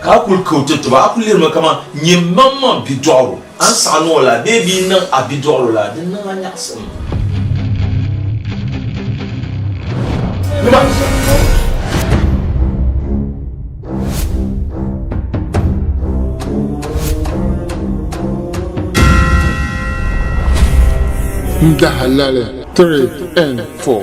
Ka a kul ka o ti tɔbu, a ku lirimi kaman nyɛmaŋmaŋ bidɔɣiro. A ni saɣi niŋ o lala bee bia n-niŋ a bidɔɣiro lala, di niŋ a nyaɣisim. N dahalali 3 and 4.